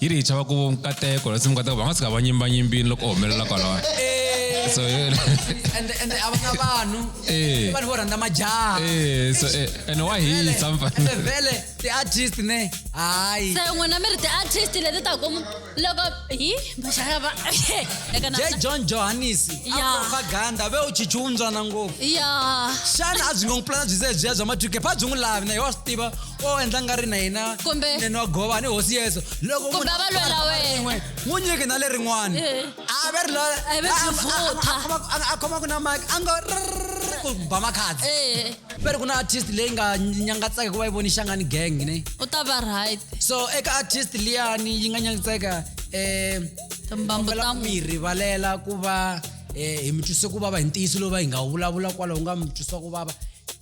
yi ri hi chava ku nkateko lasi mikateko va nga tshuka va nyimbanyimbini loko u humelela kwalawa eh. so eh. ende ende a va na vanhu eh. vanhu vo rhandza majaha so ene wa hisa mfanele vele ti-artist ne hayi se n'wina mi ri ti-artist leti ta ku loko hi majaha va je john johannes a propaganda ve u chichi wuntswana ngopfu ya xana a byi nga n'wi pulana byi se byiya bya matwike pha byi n'wi lavi na hi wa swi tiva o endla nga ri na yena Kumbe- nene wa gova ni hosi yeso loko Kumbe munhu a va lwela a khoma wena. rin'we, n'wi nyiki na lerin'wana Eh. a ve ri la- A ve a- a- vutha. a- a khoma- a- a khoma ku na mike a ngo rrrr, ku ba makhadzi ee ve ri ku na artist leyi nga nyangatseka ku va yi voni xangani gang ne u ta va right so eka artist liyani yi nga nyangatseka um timbambu ta mu mi rivalela ku va um hi mi twise ku vava hi ntiyiso lowu va hi nga wu vulavula kwalaho nga mi twisa ku vava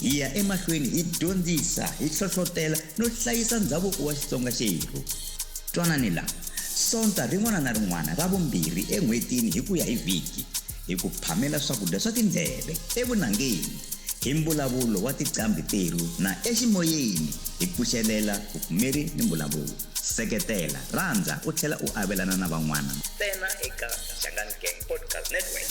Hi ya emahlweni hi dyondzisa, hi hlohlotela no hlayisa ndhavuko wa Xitsonga xerhu. Twanani la, Sonta rin'wana na rin'wana ra vumbirhi en'hwetini hi ku ya hi vhiki, hi ku phamela swakudya swa tindleve, evunangeni, hi mbulavulo wa tiqambhi terhu na eximoyeni hi pfuxelela vupfumeri ni mbulavulo. Seketela, rhandza u tlhela u avelana na van'wana. Ntsena eka Shangani Gang Podcast Network.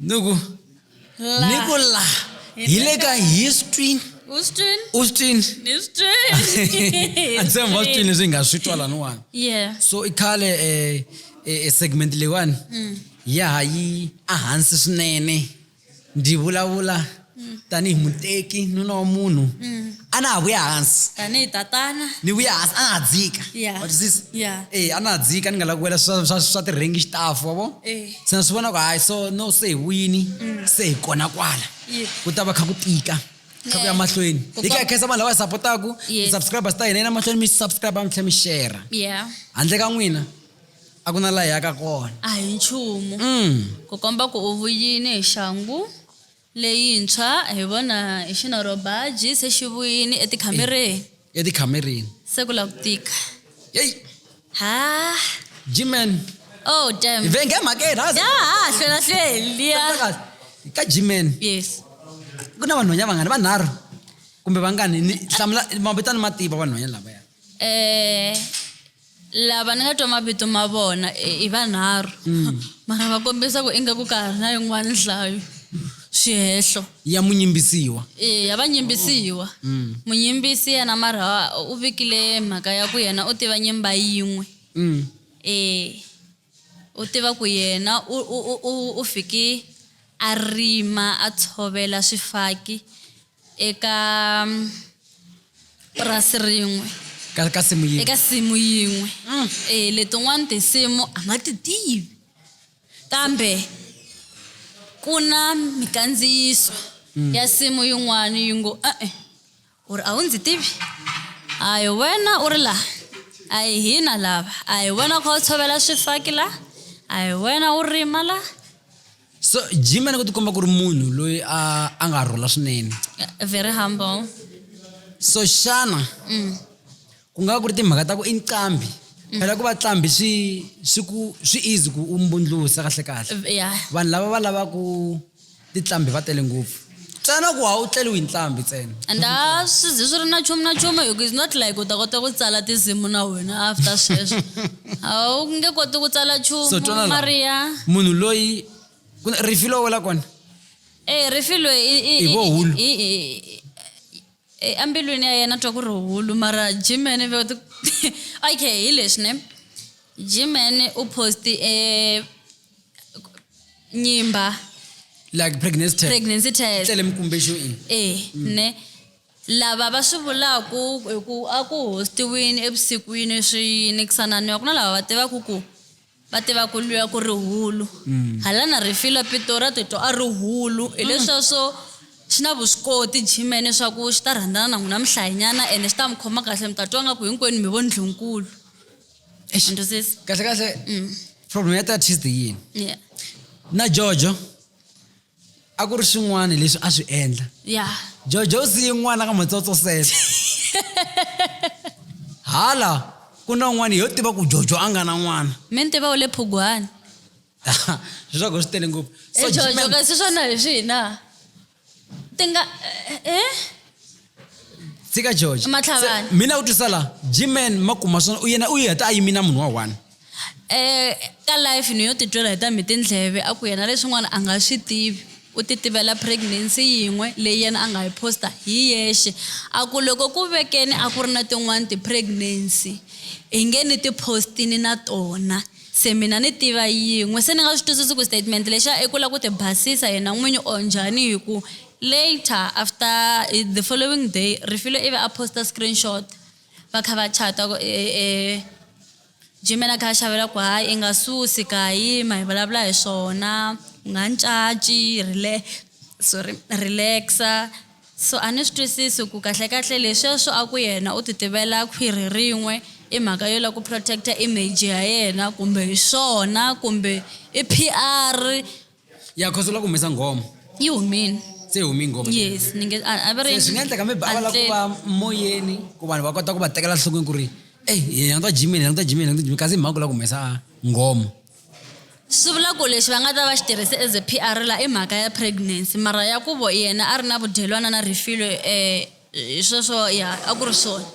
nuku nuku la hi le ka history Austin. austin andisemva austin leswi hi nga swi twa laniwani Yeah. so i khale eh, eh, eh, segment leyiwani ya ha yi ehansi swinene ndzi vulavula mm. tanihi muteki nuna wa munhu mm. a na ha vuya hansi tanihi tatana ni vuya hansi a na ha dzika watwisisa e a na ha dzika ni nga lavi ku wela swa tirhengi xitafu wa vo eh. se na swi vona ku hayi so no se hi wini mm. se hi kona kwala ku ta va kha ku tika kha ku ya mahlweni hi ka khensa vanhu lava hi sapotaku tisubscribers ta hina yi na mahlweni mi subscribe mi tlhela mi shera handle ka n'wina a ku na laha yaka kona a hi nchumu mm. ku komba ku u vuyini hi xangu Leyintshwa hi vona hi xinorhobaji se xi vuyini etikhamereni. Etikhamereni. Se ku la ku tika. Yeyi! Haa! G-Man. Oh, damn. Hi venge emhakeni, ha ha. Ya ha ha hlwela hlweli liya. Twa kahle. Ka G-Man. Yes. Ku na vanhwanya vangani? Vanharhu? Kumbe vangani? Ni hlamula mavito a ni ma tiva vanhwanya lavaya. Eh. Lava ni nga twa mavito ma vona i vanharhu, mm. mara va kombisa ku ingaku ka ha ri na yin'wana nhlayo swihehlo ya munyimbisiwa eya va nyimbisiwa mm. munyimbisi yena mara u vikile mhaka ya ku yena u tiva nyimba yin'we mm. e u tiva ku yena u, u, u, u fiki a rima a tshovela swifaki eka purasi rin'we ka, ka simu yin'we eka simu yin'we mm. e, letin'wana tinsimu a nga ti tivi kambe ku na mikandziyiso mm. ya simu yin'wana yi ngo e-e u ri a wu ndzi tivi a hi wena u ri laha a hi hina lava a hi wena u kha u tshovela swifaki laha a hi wena u rima laha so jima ni ku tikomba ku ri munhu loyi a a nga rhula swinene very humble so xana mm. ku nga ku ri timhaka ta ku i nqambi mm. phela ku va tlambi swi swi ku swi easy ku u mbundlusa kahle kahle vanhu lava va lavaku titlambi va tele ngopfu tsana ku a wu tleliwi hi ntlambi tsena and a swi zi swi ri na nchumu na nchumu hi ku is not like u ta kota ku tsala tinsimu na wena after sweswo a wu nge koti ku tsala nchumu mariya munhu loyi rifi lowu wela kona e rifi loyi hi vohulu embilwini ya yena twa ku ri hulu mara jimene okay hi leswi ne jimene u posti e eh, nyimba like pregnancy test pregnancy test tlele mikumbexo in eh mm. ne lava va swi vulaku hi ku a ku hostiwini evusikwini swi yini kusananiwa ku na lava va tivaku ku va tiva ku lwiwa ku ri hulu mm. hala na rifilo pitori a titwa a ri hulu mm. hileswaswo xi na vuswikoti jimene swa ku xi ta rhandzana na n'wina mihlayinyana ene xi ta mi khoma kahle mi ta twa nga ku hinkwenu mi vo ndlunkulu eish into sisi kahle kahle problem ya tatist yini yeah na jojo a ku ri swin'wana leswi a swi endla yeah jojo u siye n'wana ka matsotso sele hala ku na un'wana yo tiva ku jojo a nga na n'wana mi ni tiva u le phugwani leswaku swi tele ngopfu So, Eh, jojo G-Man- kasi swona hi swina tinga eh? tsika george Matlhavani. Se- mina u twisa la gman makuma swona u yena u yi heta a yimi na munhu wa one eh ka life ni yo titwela hi ta mi tindleve a ku yena leswin'wana a nga swi tivi u ti tivela pregnancy yin'we leyi yena a nga yi posta hi yexe a ku loko ku vekeni a ku ri na tin'wani ti-pregnancy hi nge ni ti-postini na tona Se mina ni tiva yin'we. Se ni nga swi twisisi ku statement lexiya i ku la ku ti basisa yena n'winyi or njhani hi ku later after the following day Refilwe i ve a post-a screenshot va kha va chat-a ku Jimmy yena a kha a xavela ku hayi i nga susi ka yima hi vulavula hi swona u nga ni caci sorry relax-a. So a ni swi twisisi ku kahle-kahle lesweswo a ku yena u ti tivela khwiri rin'we i mhaka yo lava ku protect-a image ya yena kumbe hi swona kumbe i PR. Ya coz u la ku humesa nghoma. Yi humile. Se yi humile nghoma. Yes ni nge a va ri. Se swi nga endleka maybe a va la ku va moyeni ku vanhu va kota ku va tekela nhlokweni ku ri ey hi languta G-Man hi languta G-Man hi languta G-Man kasi hi mhaka ku la ku humesa nghoma. Swi vula ku lexi va nga ta va xi tirhise as a P_R la i mhaka ya pregnancy mara ya ku vo yena a ri na vudyelwana na Refilwe hi sweswo ya a ku ri swona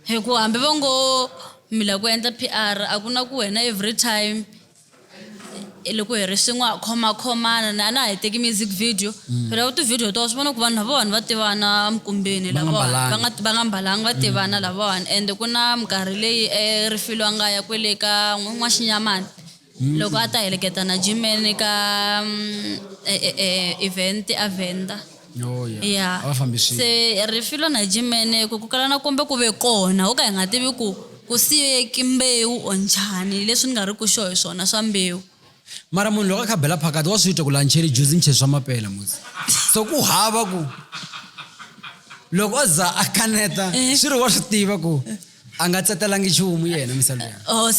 hi ku hambi vo ngo mi la ku endla P_R a ku na ku wena every time loko hi ri swin'we ha khomakhomana a na ha yi teki music video. mm. phela u ti-video to swi vona ku vanhu lavawani va tivana emikumbeni lavawani va nga mbalanga va tivana mm. lavawani ende ku na minkarhi leyi erifilo a nga ya kwele ka n'waxinyamani mm. loko a ta heleketa na jimen ka mm, e, e, e, event a venda Oh, ya se rifilo na jimene ku ku kala na kombe ku ve kona ho ka hi nga tivi ku ku siyeki mbewu or njhani leswi ni nga ri ku xo hi swona swa mbewu mara munhu loko a kha bela phakati wa swi twa ku la ncheri juzi nche swa mapela muzi so ku hava ku loko o za a kaneta eh. swi ri wa swi tiva ku a nga tsetelangi nchumu yena misalo ya oh,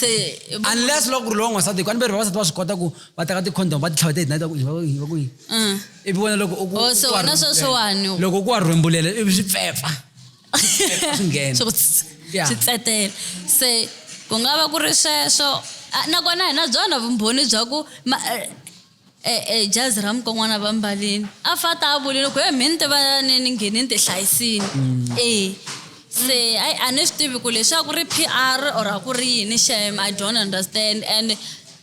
unless loko ku ri lowa n'wansati hiku a ni veri vavasati va swi kota ku va teka ti-condom va titlhava ti ignite va ku yini va ku yini mm. ivi wena loko oh, loko ku wa rhwembulele ivi swi pfepfa swi nghena swi ku tss- Yeah. swi tsetela se ku nga va ku ri sweswo Ah, nakona hi na byona vumbhoni bya ku ma- eh, eh, eh, jazi ra mukon'wana va mbalini a fa ta a vulile ku he mi ni tivanani ni ngheni ni ti hlayisini e se ayi a ni swi tivi ku leswaku ri p r or a ku ri yini shem i don't understand and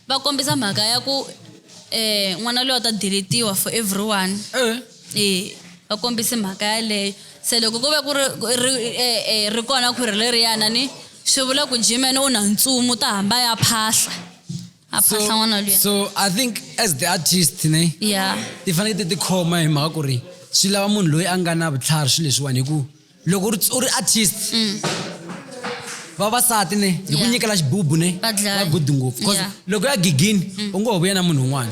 va kombisa mhaka ya ku um n'wana loyi a ta deletiwa for everyone Eh. e va kombise mhaka yaleyo se loko ku ve ku ri ri e, e, ri kona khwiri leriyana ni swi vula ku jimene u na ntsumu ta hamba ya phahla a phahla n'wana luya so i think as the artist ne ya ti fanekele ti tikhoma hi mhaka ku ri swi lava munhu loyi a nga na vutlhari swilo leswiwani hi ku loko u ri- u ri artist vavasati ne hi ku Mm. Yeah. nyikela xibubu ne Va dlaya. va good ngopfu because Yeah. Mm. loko ya gigini u ngo ho vuya na munhu un'wana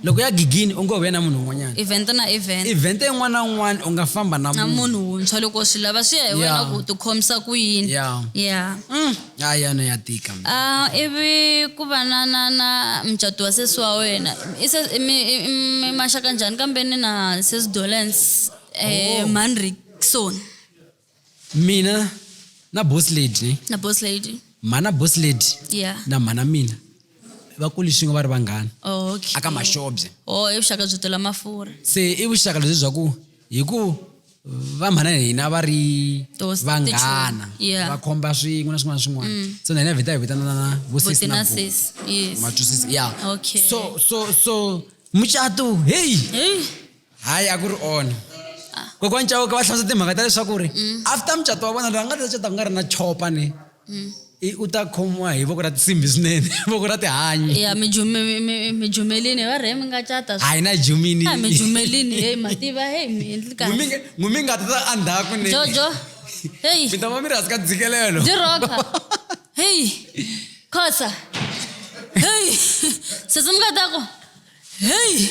loko ya gigini u ngo ho vuya na munhu un'wanyana event na event event yin'wana na un'wana u nga famba na na munhu munhu wuntshwa loko swi lava swi ya hi wena Yeah. ku tikhomisa ku yini Yeah. ya Mm, a yana ya tika Ah, ivi ku va na na na mucato wa sesi wa wena I se- i mi- i- i mi maxaka njhani kambe ni na sesi dolence eh, Oh. mhani rikson mina na boss lady ne na boss lady mhana boss lady ya na mhana mina va kuli swin'we va ri vanghana Oh, okay. aka maxobye o i vuxaka byo tela mafurha se i vuxaka lebyi bya ku hi ku va mhana na hina va ri Those vanghana tichumi, yeah. Mm. va khomba swin'we na swin'wana na swin'wana so na hina vheta hi vitanana vo sis na botina bo. sis yes matwisisi ya Okay. so so so mucato heyi Hey. hayi a ku ri ona kokwani cawuka va hlamusa timhaka ta leswaku ri mm. after mucato wa vona loyi a nga ta cata ku nga ri na chopa ni mm. u ta khomiwa hi voko ra tisimbi swinene voko ra tihanyi ya mijumelini va rhe mi nga cata hayi na jumini mijumelini heyi mativa heyi mi endli kahle ngumi nga ta andhaku ni jojo heyi mi ta va mi ri hansi ka dzikelelo diroka heyi khosa heyi sesi mi nga ta ku heyi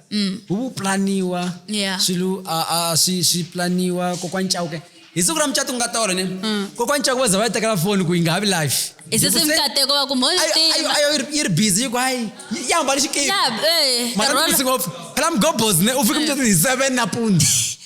mm. huvuplaniwa yeah. swilu uh, uh, swi, swi planiwa kokwa ncawuke hi siku ra mucato ku nga tolo ne mm. kokwa ncako va za va yi tekela foni ku yi nga ha vi life isisimkateko va kumhoayo yi ri busy yiku hayi yi hambani xikipmara eh, ngopfu phela mgobos ne u fika mucato hi seven napunzi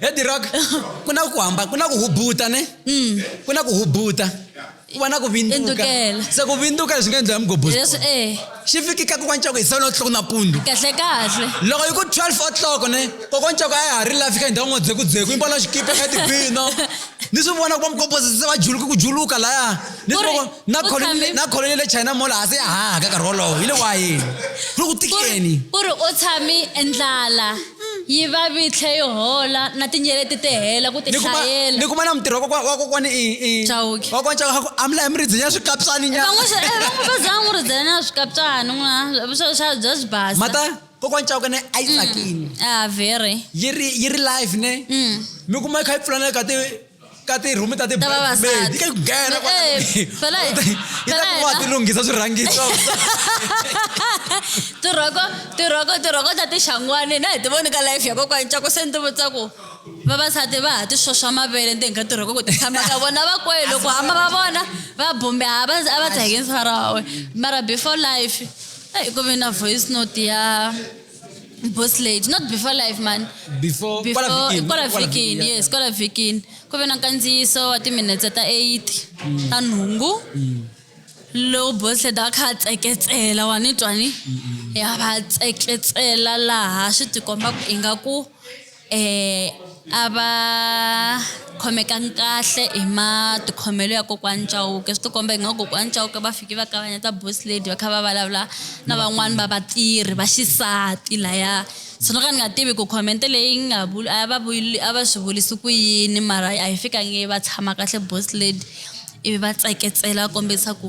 head rock ku na ku hamba ku na ku hubuta ne mm. ku na ku hubuta ku va na ku vinduka se ku vinduka leswi nga endliwa mugobos eh. xi fikika kokwanchoko hi seven o'clock napundu kahle kahle loko yi ku twelve o'clock ne kokwanchoko a ya ha ri la fika hi ndhawu n'wodzeku dzeku yi mbona xikipa ka tibino ni swi vona ku va mugobosisi se va juluka ku juluka laya ni swi vona na colony na colony le china mall ha se ya hahaka nkarhi wolowo hi le wayeni ku ri ku tikeni ku ri u tshami endlala yi va vi tlhe yi hola na tinyeleti ti hela ku ni kuma tihlayela ni kuma na mutirhi wa kokwa- wa kokwani i i Chauke. wa kokwani Chauke a ku amla hi mi ridzenya swikapsani nya van'we swi- eh, van'we va zanga ri dzela na swikaptsani n'wana swa swa bya swi basa mata kokwani Chauke ne a yi tsakini ah very yi ri yi ri live ne mm. mi kuma yi kha yi pfulana ka ti ka tirhumi ta tibedi ka ku nghena wa ti lunghisa swirhangiso tirhoko tirhoko tirhoko ta tixangwani na hi ti voni ka life ya kokwani cako se ni ti vutisa ku vavasati va ha ti xoxa mavele ndzeni ka tirhoko ku ti tshama ka vona va kwele loko hamba va vona va bumbe a va a va tsakisa rawe mara before life eyi ku ve na voice note ya boss lady not before live man before before kwala vhikini, kwala kwala vhikini vhikini, yes kwala vhikini ku ve na nkandziyiso wa timinetse ta 8 Mm. ta nhungu lowu boss lady a kha a tseketsela wa ni twa ni Mm, ya va tseketsela laha swi tikomba ku ingaku Eh, a va khomekangi kahle hi matikhomelo ya kokwani Chauke swi tikomba ingaku kokwani Chauke va fike va kavanyeta boss lady va kha va vulavula na van'wani va vatirhi va xisati laya so no ka ni nga tivi ku comment leyi nga vuli a va vuli a va swi vulisi ku yini mara a yi fikangi va tshama kahle boss lady ivi va tseketsela va kombisa ku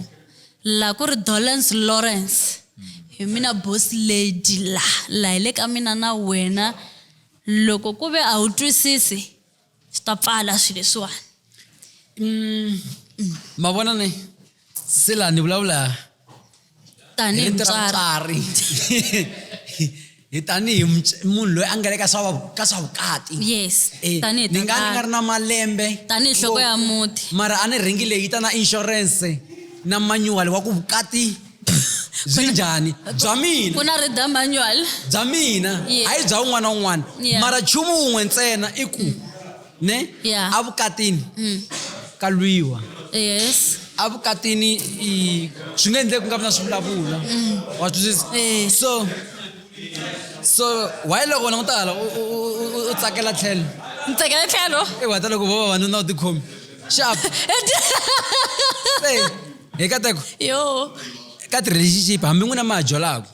la ku ri dolence lawrence hi mina boss lady la la hi le ka mina na wena loko ku ve a wu twisisi swi ta pfala swi leswiwani mm, mm. ma vona ni se la ni vulavula tanihi mutswari hi tanihi munhu loyi a nga le ka swa ka swa vukati yes eh, tanihi ni nga ni nga ri na malembe tanihi nhloko ya muti mara a ni ringi leyi ta na insurance na manual wa ku vukati byi njhani bya mina ku na rida manual bya mina hayi bya un'wana na un'wana mara nchumu wun'we ntsena i ku ne yeah. avukatini mm. ka lwiwa yes avukatini swi nga endleki ku nga vi na swivulavula mm. wa twisisa eh. so so why loko wena ku ta hala u tsakela tlhelo ni tsakela tlhelo i wata loko vo vavanuna u tikhomi xap hi kateko yo ka ti-relationship hambi n'wina ma ha jolaka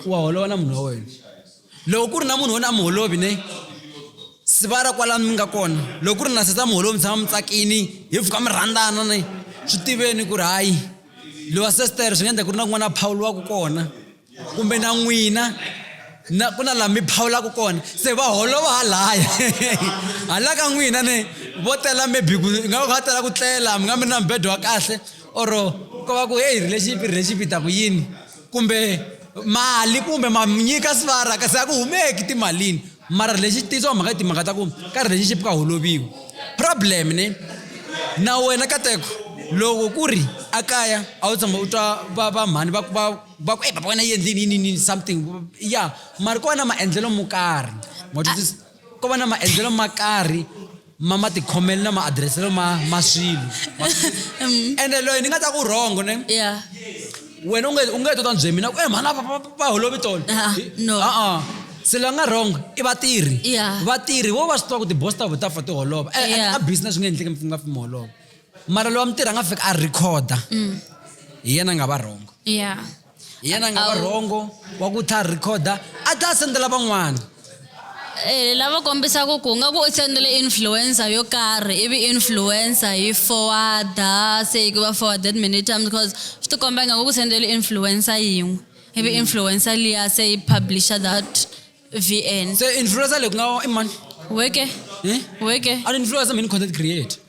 wa holova na munhu wa wena loko ku ri na munhu wona a miholovi ne sivara kwalani mi nga kona loko ku ri na sesa miholovi mi tshama mi tsakini hi pfuka mi rhandzana ne swi tiveni ku ri hayi lowa sestere swi nga endla ku ri na kun'wana a phawuliwaka kona kumbe na n'wina na ku na laha mi phawulaka kona se va holova halaya hala ka n'wina ne vo tela maybe ku nga va tela ku tlela mi nga mi ri na mibedo wa kahle or ko va ku heyi relationship relationship yi ta ku yini kumbe mali kumbe ma nyika svara kasi a ku humeki timalini mara lexi tiyisiwa mhaka timhaka ta ku ka ri lexi xipika holoviwa problem ne na wena kateko loko ku ri a kaya a wu tshama u twa va va mhani va va va ku e baba wena yendlini yini yini something ya mara kona maendlelo mo karhi ko va na maendlelo ma karhi ma matikhomelo na maadreselo ma ma swilo mm. ende loyi ni nga ta ku rhongo ne wena u nge tota bye mina ku e mhana va holovi tona a-a se loyi a nga wrong i vatirhi vatirhi vo va swi tiva ku ti-boss ta vo ta fa ti holova e, e, a business swi nga endleki mi nga fimi holova mara loyi wa mi tirha a nga fika a rhikhoda mm. hi yena a nga va wrong hi yena a nga va rhongo wa ku tlha rhikhoda a tlha a sendela van'wana Eh, lava kombisaka ku nga ku u sendele influencer yo karhi ivi influencer yi forwarda se yi va forwarded many times because swi ti komba nga ku sendele influencer yin'we ivi mm. influencer liya se yi publisha that vn se influencer leyi ku nga i mani weke eh? weke a influencer mini content create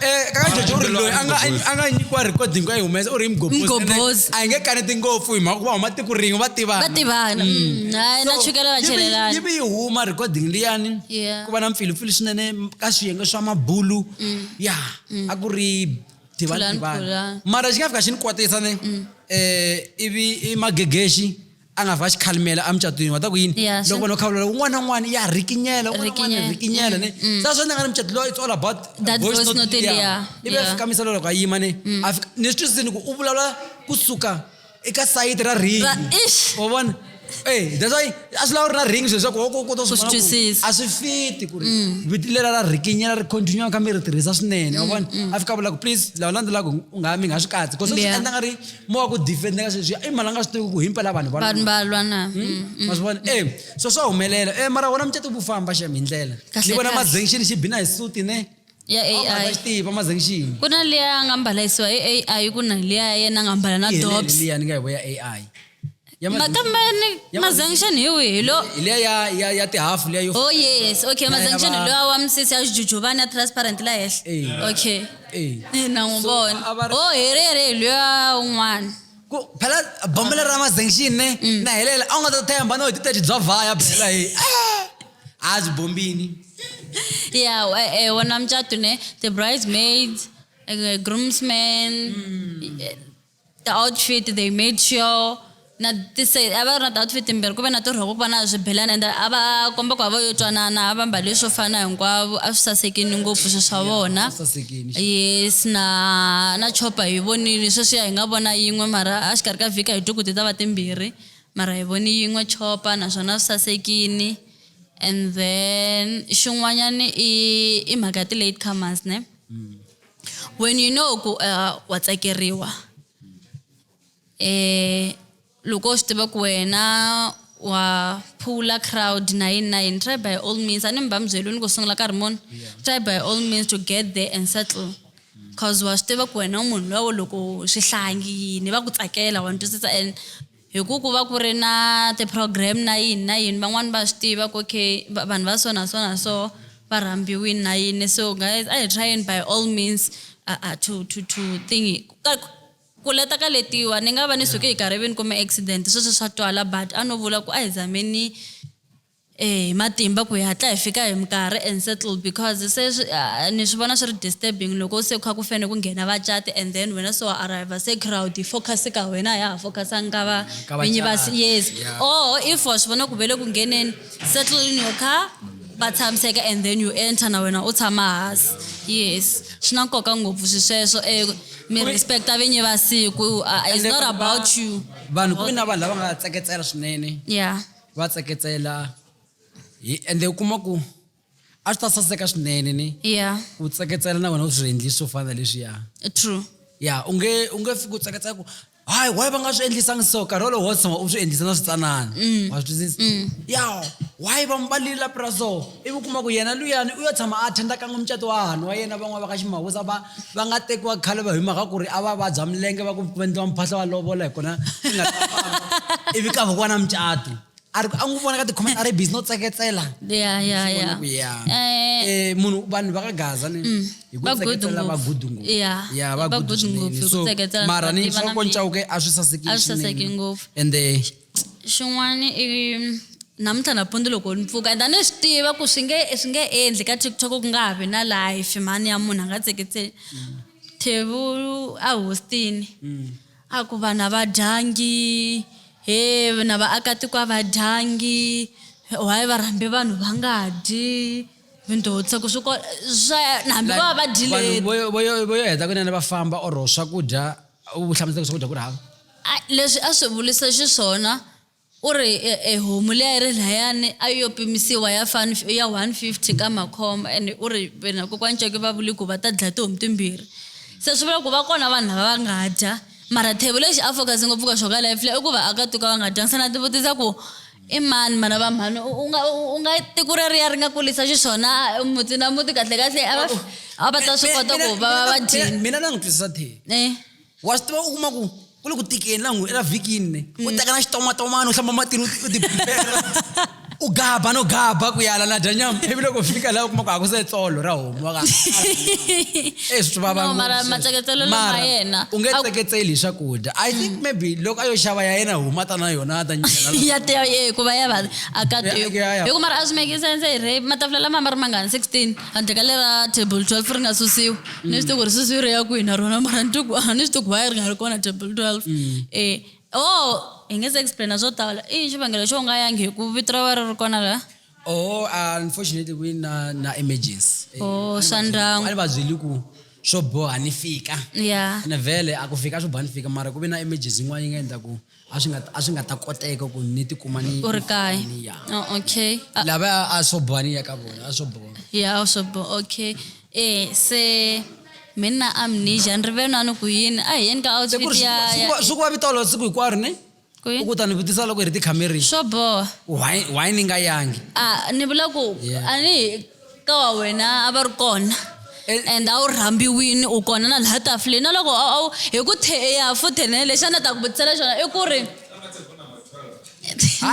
Eh, ka jojo uri loyi a nga a nga nyikiwa recording a yi humesa u ri mgobozi a yi nge kaneti ngopfu hi mhaka ku va huma tiko rin'we va tivana va tivana mm. Mm. hayi na chukela va chelelana yivi yi huma recording liyani ku va na mpfilupfilu swinene ka swiyenge swa mabulu mm. ya a ku ri tivana tivana mara xi nga fika xi ni kwatisa ne um ivi i magegexi a nga va xikhalimela emucatwini wa ta ku yini yeah, loko vanhu va khavula loko un'wana na un'wana ya rikinyela un'wana rikinyela ne mm. sa swa ni nga ni mucato lowa it's all about that voice not the yeah ivi a fika misalo loko a yima ne mm. a fika ni swi twisisini ku u vulavula kusuka eka sayiti ra ringi wa vona Hey, that's why a swi lava ri na ring swilo swaku oko kota switwisisa a swi fiti ku ri mm. viti leri ra rikinyela ri continue kambe ri tirhisa swinene wa vona a fika vula ku please lava landzelaka u nga mi nga swi katsi because swi endla nga ri mo wa ku defenda ka sweswi i mali a nga swi tivi ku himpela vanhu vanhu va lwa na hmm? mm, mm, ma swi vona e so swa humelela e mara wona mucato vu famba xem hi ndlela ni vona mazengixini xi bina hi suti ne ya AI tiva mazengixini ku na liya a nga mbalisiwa hi AI ku na liya yena a nga mbala na dobs liya ni nga hi vo ya AI Ya ma- makambe ni mazangishani hi wihi lo hi leya ya ya ya tihafu leya yo oh yes okay Ya- ya mazangishani va- lowa wa misisi ya xijujuvani ya transparent la Eh. henhla okay Eh. Eh, na n'wi So, vona a va ri- o herere hi loya un'wana ku phela bombo leri ra mazengixini ne Mm. na helela a wu nga ta themba no hi titaji bya vhaya phela hi a byi bombini ya eh, eh, wona mucato ne the bridesmaids eh, groomsmen eh, ti-outfit they made sure na tise a va ri na ti-outfit timbirhi ku ve na tirhoko ku va na swibelani ende a va komba ku hava yo twanana a va mbale swo fana hinkwavo a swi sasekini ngopfu swi swa vona yes na na chopa hi vonile sweswiya hi nga vona yin'we mara a xikarhi ka vhiki a hi twi ku ti ta va timbirhi mara hi voni yin'we chopa naswona swi sasekini and then xin'wanyana i i mhaka ya ti-late comers ne mm. when you know ku uh, wa tsakeriwa eh loko swi tiva ku wena wa phula crowd na yini na yini try by all means a ni mi va mi byeliwi ni ku sungula nkarhi muni try by all means to get there and settle cause wa swi tiva ku wena munhu lowo loko swihlangi yini va ku tsakela wa ni twisisa and Hi ku ku va ku ri na ti program na yini na yini van'wana va swi tiva ku okay vanhu va so na so na so va rhambiwini na yini so guys a hi tryeni by all means uh, uh, to to to thing ka ku leta ka letiwa ni nga va ni suke hi karivini kumbe accident sweswo swa twala but a no vula ku a hi zameni Eya hi matimba ku hi hatla hi fika hi minkarhi and settled because se swi ni swi vona swi ri disturbing loko se ku kha ku fane ku nghena vacati and then wena se wa arriver se crowd yi focus ka wena a ya ha focusanga ka va vinyi va yes or if wa swi vona ku ve le ku ngheneni settle in your car va tshamiseka and then you enter na wena u tshama hansi yes swi na nkoka ngopfu swi sweswo um mi respecta vinyi va siku is not about you vanhu ku ve na vanhu lava nga tsaketsela swinene ya va tseketsela hi ende u kuma ku a swi ta saseka swinene ni ya ku tseketsela na wena u swi endli swo fana leswiya true ya u nge u nge fiki u tseketsela ku hayi why va nga swi endlisangi so nkarhi wolowo wo tshama u swi endlisa na switsanana mm. wa swi twisisa mm. ya why va mbalile lapi ra so Ivi u kuma ku yena luyani u yo tshama a attenda kan'we mucato wa hahani wa yena van'wana va ka Ximawusa va va nga tekiwa khale va hi mhaka ku ri a va vabya milenge va ku ku endliwa mphahlo wa lovola hi kona swi nga ta famba. Ivi ka vukwa na mucato a ri ku a n'wi vona ka tikhomete a ri busy no tseketsela ya ya Swi vona ya ku ya Eh, Eh, munhu vanhu va ka gaza ni hi ku va good tseketsela va ngopfu. gudu ngopfu Yeah, ya va va gudu good swinene. ngopfu hi ku So, tseketsela, mara ni va tiva na swa ku mbilu. ncawuke a swi sasekile A swi saseki swinene. ngopfu. ende xin'wana i namuntlha nampundzu loko ni pfuka and a ni swi tiva ku swi nge swi nge endli ka tiktok ku nga ha vi na life mhani ya munhu a nga tseketseli thevu a hostini mm. a ku vanhu a va dyangi he na vaakatiko a va dyangi why va rhambe vanhu va nga dyi vindhotsa ku swi ko swa hambi va va dyileti vo yo heta kunene va famba or swakudya u hlamusela swakudya ku ri hava leswi a swi vulisa xiswona u ri e, e homu leyi a yi ri layani a yo pimisiwa ya fan ya 150 ka makhomba ene u ri vena kokwani ceke va vuli ku va ta dlaya tihomu timbirhi se swi vula ku va kona vanhu lava va nga dya mara thebo lexi a focus ngopfu ka xo ka life leyi i ku va aka tuka va nga dyanga se na ti vutisa ku I mani mana va mhani u nga u nga tiko reriya ri nga kulisa xiswona muti na muti kahle kahle a va a va ta swi kota ku va va va dyini mina na n'wi twisisa the eh wa swi tiva u kuma ku ku le ku tikeni la n'wi la vikini ne u teka na xitomatomani u hlamba matini u ti- u ti prepare u gaba no gaba ku yala na dya nyama ivi loko fika la u kuma ku a ku se tsolo ra homu no ka eh swi vava No, mara ngopfu. matseketselo lama Mara, yena. u nge A- tseketseli hi swakudya i think maybe loko a yo xava ya yena huma ta na yona a ta nyikela loko- ya teya ye hikuva ya va aka Ya- teku ya- ya. hikuva mara a swi make sense hi re matafula lama ma ri mangani 16 handle ka lera table 12 ri nga susiwa ni swi tiku ri susiwi ri ya kwihi na rona mara ni tiku a ni swi tiku why ri nga ri kona table 12 eh o hi nge se explaina swo tala i xivangelo xo nga yangi hi ku vito ra va ri ri kona la oh uh, unfortunately ku na na emergency Eh, Oh, a ni swa va byeli- ndyangu. a ni va byeli ku swo boha ni fika Yeah. ene vhele a ku fika swo boha ni fika mara ku ve na emergency yin'wana yi nga endla ku a swi nga a swi nga ta koteka ku ni tikuma ni u ri kaya ni ya oh, okay Ah, lava a swo boha ni ya ka vona a swo boha ya a swo boha okay eh se mi na amnesia ni rivenani ku yini a hi yeni ka outfit ya ya- swi ku va vitolo siku hinkwaro ne ku u yini ku ta ni vutisa loko hi ri tikhamerini swo boha why why ni nga yangi a ni vula ku Yeah. a ni ka wa wena a va ri kona Eh. and a wu rhambiwini u kona na laha tafuleni na loko a- a wu- hi ku the eya futhe ne lexi a ni ta ku vutisela xona i ku ri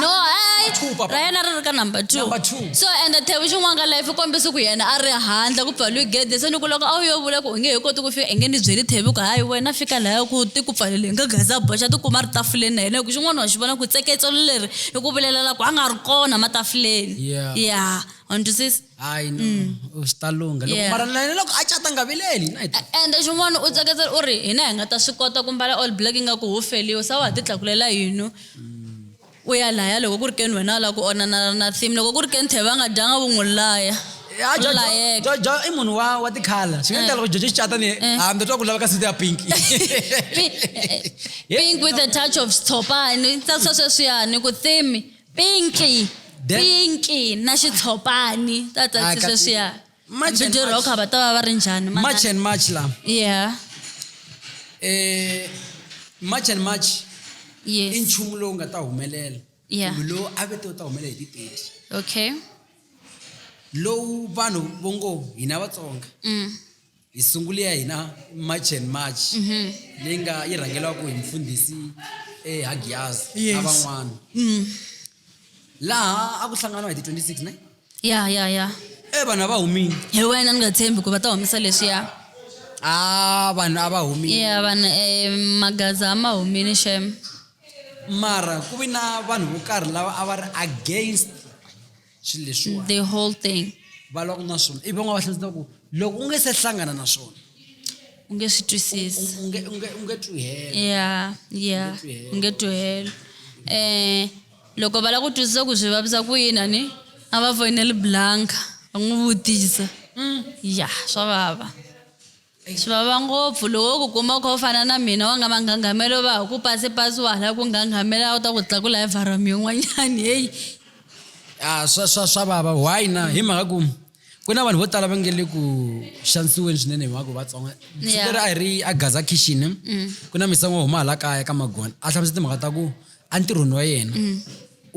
no ai two, papa. ra yena ri ri ka number two number two so ende thevi xin'wana ka life kombisa ku yena a ri handle ku pfaliwi gede se ni ku loko a wu yo vula ku u nge he koti ku fika i nge ni byeli thevi ku hayi wena fika laya ku ti ku pfalele nga gaza boxa ti kuma ri tafuleni na yena hi ku xin'wana wa xi vona ku tseketselo leri i ku vulelela ku a nga ri kona matafuleni ya yeah. wa ni twisisa hayi no mm. swi ta lungha loko mara na yena loko a cata nga vileli na ende xin'wana u tseketsela u ri hina hi nga ta swi kota ku mbala all black ingaku ho feliwe sa wa ha ti tlakulela yino mm. U ya laya loko ku ri keni wena u lava ku onanana na Thim. Loko ku ri keni Thebe a nga dyanga u n'wi laya. A Jojo, layeka. Jojo i munhu wa wa tikhala. Swi nga endla loko Jojo xicata ni yena, ha ndza twa ku lava ka suit ya pink. Pi- eh, pink with a touch of xitshopani ni tsarisa sweswiyani ku Thim pinki Then- pinki na xitshopani ta Ah, tsarisa kasi- sweswiyani March and March. rock va ta va va ri njhani Ma- march and march la yeah eh march and march i yes nchumu lowu nga ta humelela Yeah. kumbe lowu a vete wu ta humelela hi ti-thirty okay lowu vanhu vo ngo hina vatsonga mm. hi sungule ya hina march and march Mhm. leyi nga yi rhangelaka hi mfundhisi ehagiyazi na Yes. van'wana Mm. laha a ku hlanganiwa hi ti 26 ne ya ya ya e vanhu a va humile hi wena ni nga tshembi ku va ta humisa leswiya a vanhu a va humile ya vanhu um magaza a ma humile shem mara ku vi na vanhu vo karhi lava a va ri against swilo leswiwa the whole thing va lwa ku na swona ivi van'wana va hlamusela ku loko u nge se hlangana na swona u nge swi twisisi u nge u nge u nge twi helo ya ya u nge twi helo um loko va lava ku twisisa ku swi vavisa ku yini a ni a va foyineli blanka va n'wi vutisa mm. ya swa vava swi vava ngopfu loko ku kuma kha u fana na mina wa nga manghangamelo va ha ku pasi pasi wa hala ku nganghamela a wu ta ku tlakula hi varami yin'wanyani heyi a ah, swa swa swa vava why na hi mhaka ku ku na vanhu vo tala va nge le ku xanisiweni swinene hi mhaka vatsonga Yeah. leri a hi ri a gaza kitchen ku na misango huma hala kaya ka magona a hlamusa timhaka ta ku entirhweni wa yena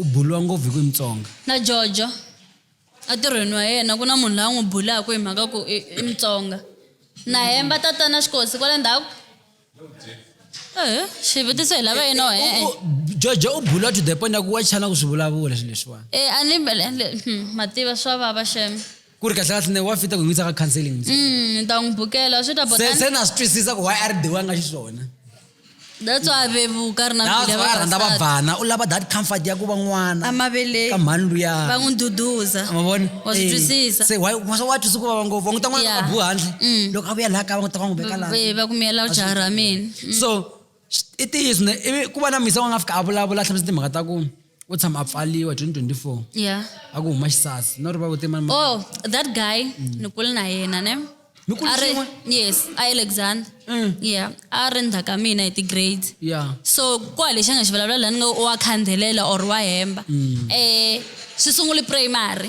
u buliwa ngopfu hi ku i mutsonga na jojo entirhweni wa yena ku na munhu la n'wi bulaka hi mhaka ku i i mutsonga na hemba tatana xikosi kwale ndzhaku Eh, xivutiso hi lava yino e eh, eh. jojo u bula to the point ya ku wa chana ku swi vulavula swilo leswiwani e a ni mbele le- hmm, mativa swa vava shem ku ri kahlekahle ne wa fita ku n'wisa ka counseling ntsena. Mm, ni ta n'wi bukela swi ta se botani se na swi twisisa ku why a ri dewanga xiswona that's why a vevuka a ri na mbilu ya natswa a rhandza vavasati. vabvana u lava that comfort ya ku va n'wana ka amaveleni mhani luya va n'wi duduza ma vona Wa swi Eh, twisisa. se why wa wa twisa ku vava ngopfu wa n'wi ta n'wana Yeah. ka buha handle Mm. loko a vuya laha kaya va n'wi ta va n'wi veka laha Ve- va kumiyela Wa swi jaha ra twisisa. mina so sh- i ntiyiso ne ivi ku va na misa wa nga fika a vulavula a hlamusa timhaka ta ku u tshama a pfaliwa 2024 ya a ku huma xisasi no ri va vutema oh that guy ni kule na yena ne mi ku a ri xin'we yes a yi le Xander Mm. yeah a ri ndzhaka mina hi ti-grade ya so ku hava lexi a nga xi vulavula laha ni ngo wa khandzelela or wa hemba Mm. eh swi sungule primary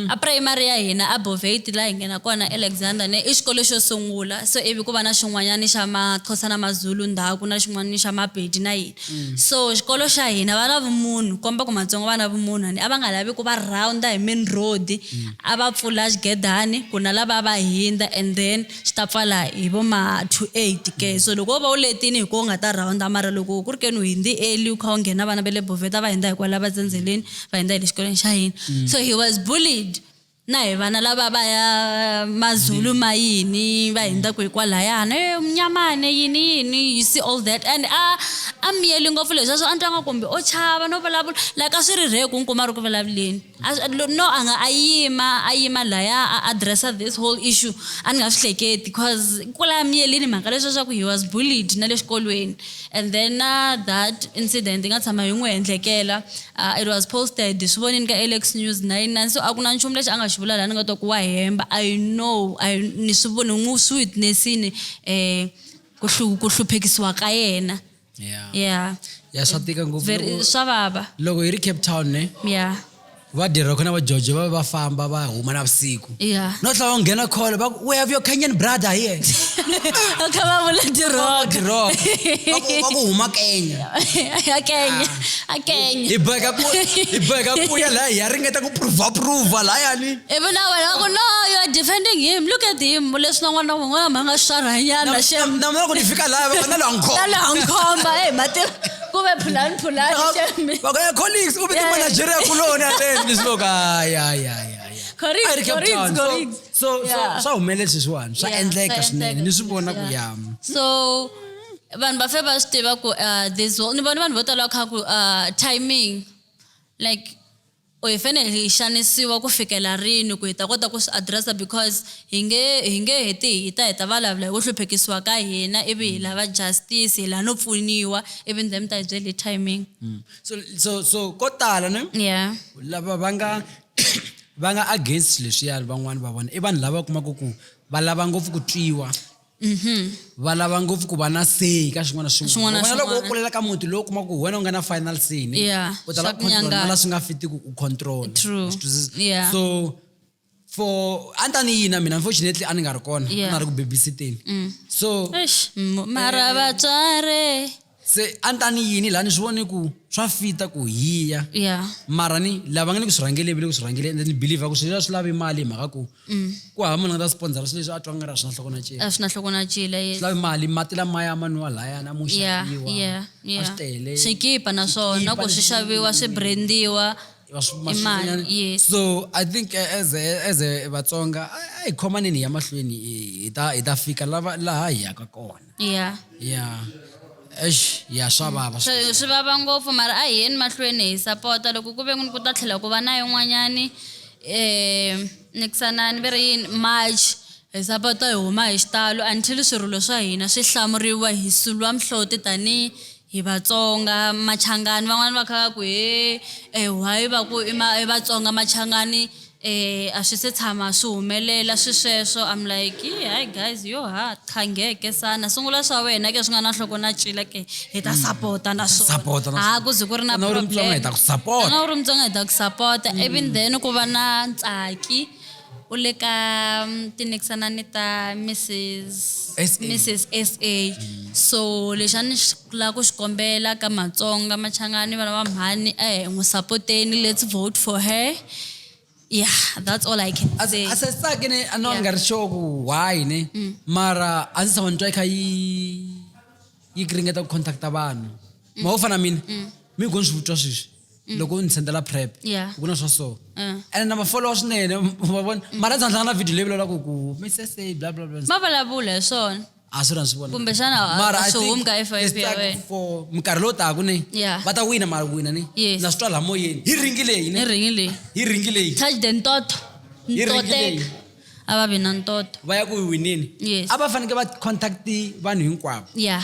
a primary ya hina a bovate laha hi nghena kona alexander ne i xikolo xo sungula so ivi ku va na xin'wanyana xa maxhosa na mazulu ndhaku na xin'wana xa mapedi na yini Mm. so xikolo xa hina va na vumunhu komba ku matsongo va na vumunhu ni a va nga lavi ku va rounder hi main road mm. a va pfula xigedani ku na lava va hindza and then swi ta pfala hi vo ma two eight ke mm. so loko wo va u letini hi ko u nga ta rounder mara loko ku ri keni u hindzi eli u kha u nghena vana va le boveta va hindza hi kwala va tsendzeleni va hindza hi le xikolweni xa hina so he was bullied Na hi vana lava va ya Mazulu ma yini va hindza ku hikwalhayana e munyamane yini yini you see all that and a a miyeli ngopfu leswi swo a ni twa nga kumbe o chava no vulavula like a swi ri rhe ku ni kuma ri ku vulavuleni no a nga a yima a yima laya a address-a this whole issue a ni nga swi hleketi cause kwala miyelini mhaka leswiya swa ku he was bullied na le xikolweni. And then na that incident yi nga tshama yi n'wi endlekela uh, it was posted swi vonini ka alex news 99 so a ku na nchumu lexi a nga xi vula laha ni nga twa ku wa hemba i know I, ni swi voni n'wi swi witnessini um ku hlu- ku hluphekisiwa ka yena yeah yeah ya swa tika ngopfu Very- loko- swa vava loko hi ri cape town ne yeah vadirhi va khona va jojo va va famba va huma na vusiku Yeah. no tlhela va nghena kholo va ku we have your kenyan brother here va kha va vula tiroka Tiroka. Va ku- va ku huma kenya a kenya a kenya hi boheka ku hi boheka ku ya laha hi ya ringeta ku prova prova lahayani ivi na wena va ku no you are defending him look at him leswi na n'wana wun'wana ma nga swarhanyana shem na mara ku ni fika laha va nga na lwankhoma na laha nkhomba e matirha kube phulani phulani shame vakaya colleagues u vite Yeah. manageria kuloni areni ni swo ka hayi hayi hayi hayi Correct, A ri Cape correct, Town. So- correct. so so- Yeah. swa humelela sweswiwani swa Yeah, endleka swa swinene endleka ni swi vona ku sweswiya. yama so vanhu va fe va swi tiva ku uh, this whole- ni vona vanhu vo tala va kha ku uh, timing like Or hi fanele hi xanisiwa ku fikela rini ku hi ta kota ku swi address-a because hi nge hi nge heti hi ta hi ta valavula hi ku hluphekisiwa ka hina ivi hi lava justice hi la no pfuniwa ivi ndhe mi ta hi byela hi timing. So so so ko tala ne Yeah. lava va nga va nga against leswiya van'wani va vona i vanhu lava u kumaka ku va lava ngopfu ku twiwa. Mhm. va lava ngopfu ku va na say ka swin'wana na Swin'wana swin'wana na Wena loko wo swin'wana. kulela ka muti lowu kuma ku wena u nga na final say ni Yeah, u ta la swa ku control nyanganya. na la swi nga fitiki u control True. Wa swi twisisa? Yeah. so for a ni ta ni yina mina unfortunately a ni nga ri kona a Yeah. Mm. na ri ku babysiteni so Eish, m- mara vatswari se a ni ta ni yini laha ni swi vone ku swa fita ku hiya yeah mara ni lava nga ni ku swi rhangeleni le ku swi rhangeleni and ni believer ku swilo swi lavi mali hi mhaka ku ku hava munhu a nga ta sponsora swilo leswi a twa nga ri a swi na nhloko na cela a swi na nhloko na cila yes. swi lavi mali mati lamaya ma nwiwa lahayana mo yeah xaviwa yeah a swi yeah tele swikipa naswona Swikipa ku swi leswi- xaviwa swi brandiwa va swi- ma i swi- mali nyana. yes so i think eh, as a- as a vatsonga a a hi khomaneni hi ya mahlweni hi- hi ta hi ta fika lava laha hi yaka kona ya ya eish ya swa vava so swi vava ngopfu mara a hi yeni mahlweni hi sapota loko ku ve n'wini ku ta tlhela ku va na yin'wanyani um nikisanani ve ri yini march hi sapota hi huma hi xitalo until swirilo swa hina swi hlamuriwa hi sulwa mihloti tanihi hi vatsonga machangani van'wani va kha va ku he um why va ku i ma i vatsonga machangani E, a swi se tshama swi humelela swisweswo. I'm like, yii hayi guys yo ha qha ngeke sana sungula swa wena ke swi nga na nhloko na cila ke hi ta sapota na swona sapota na ha ku ze ku ri na Wena u ri Mutsonga, hi ta ku support. Wena u ri Mutsonga, hi ta ku sapota even then ku va na ntsaki u le ka mm, tinikisana ni ta mrs Mrs. sa so lexi a ni xi Ku lava ku xi kombela ka Matsonga, Machangani, vana va mhani a hi n'wi sapoteni let's vote for her yeah that's all I can say. a se tsaki ni a no ni nga ri sure ku why ni mm. mara a ndzi tshama ni twa yi kha yi yi ringeta ku contacta vanhu mm. ma wo fana mina mm. mi go ni swi vutwa sweswi Mm. loko ni sendela prep ku na swa so uh. and na mafolowa swinene va vona mm. mara ndzi handlanga na video leyi vulavulaka ku misese bla bla bla ma vulavula hi swona a swi na swi vona kumbexana a- Mara a I swi think humi ka it's FIP ya like wena for minkarhi lowu taka ni Yeah. va ta wina mara wina ni Yes. na swi twa laha moyeni hi ringi leyi ni ni ringi leyi hi ringi leyi touch the ntoto Yi ringi ntoteka leyi. a va vi na ntoto va ya ku yi wineni Yes. a va fanekele va contact vanhu hinkwavo ya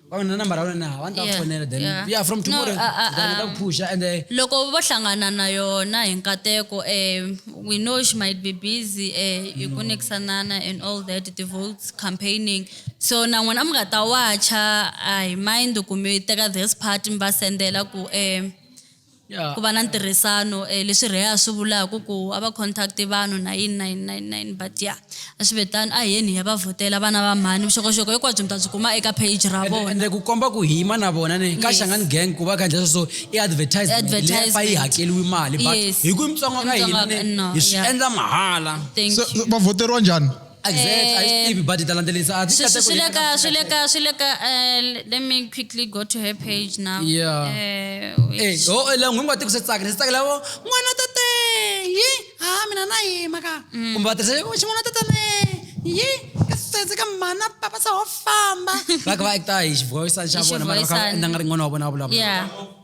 vanga na nambara ya wena na one ta Yeah, fonela then yeah. yeah from No, tomorrow ah, ah, ndzi ta ah. ku phusha and eh, loko vo hlangana na yona hi nkateko um we know she might be busy um hi ku nikisanana and all that the votes campaigning so na n'wina mi nga ta wacha a hi mind ku mi teka this part mi va sendela ku um yeah. ku va na ntirhisano um leswi rheya a swi vulaka ku a va contact vanhu na yini na yini na yini na yini but ya a swi ve tani a hi yeni hi ya va vhotela vana va mhani vuxokoxoko hinkwabyo mi ta byi kuma eka page ra vona ende ku komba ku hima na vona ni ka xangani gang ku va khandla sweswo i advertisementlefa yi hakeliwi mali but hi ku imitsongo ka hina hi swi endla mahala va vhoteriwa njhani exact a yi swi tivi but hi ta landzelerisa a ti Swi- kate swi- ku swi le ka hina- swi le ka swi le ka eh, let me quickly go to her page now Yeah. Eh, wait. Eh, ho eh, langu hinkwati ku swi tsakela swi tsakela vo n'wana tate yi ha mina na yima ka kumbe va tirhisa "Wo, xin'wana tate le yi ka sense ka mana papa sa ho famba va kha va acta hi xivoyisana xa Hi vona mara va kha xivoyisana. va endla nga ri n'wana wa vona wa vulavula yeah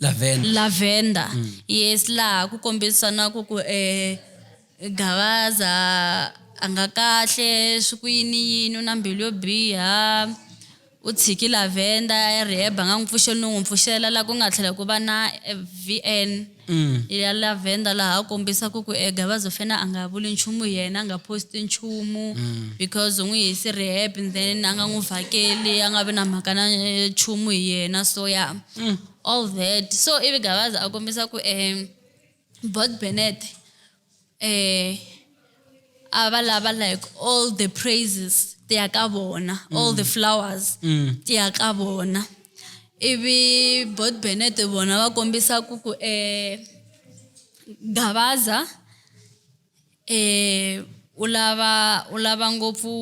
lavender, lavender. Mm. yes laha ku kombisanaku ku eh gavaza a nga kahle swi ku yini yini u na mbilu yo biha u tshiki lavender riheba nga n'wi pfuxeli no n'wi pfuxela laha ku nga tlhela ku va na eh, vn mm. ya lavender laha a kombisaka ku e gavaza fena a nga vuli nchumu yena a nga posti nchumu mm. because u n'wi hisi rehab then a nga n'wi vhakeli a nga vi na mhaka na eh, nchumu hi yena so ya yeah mm, all that so ivi gavazi a kombisa ku um bot benet um eh, a va lava like all the praises ti ya ka vona all the mm. flowers mm. ti ya ka vona ivi bot benet vona va kombisa ku ku um gavaza e u lava u lava ngopfu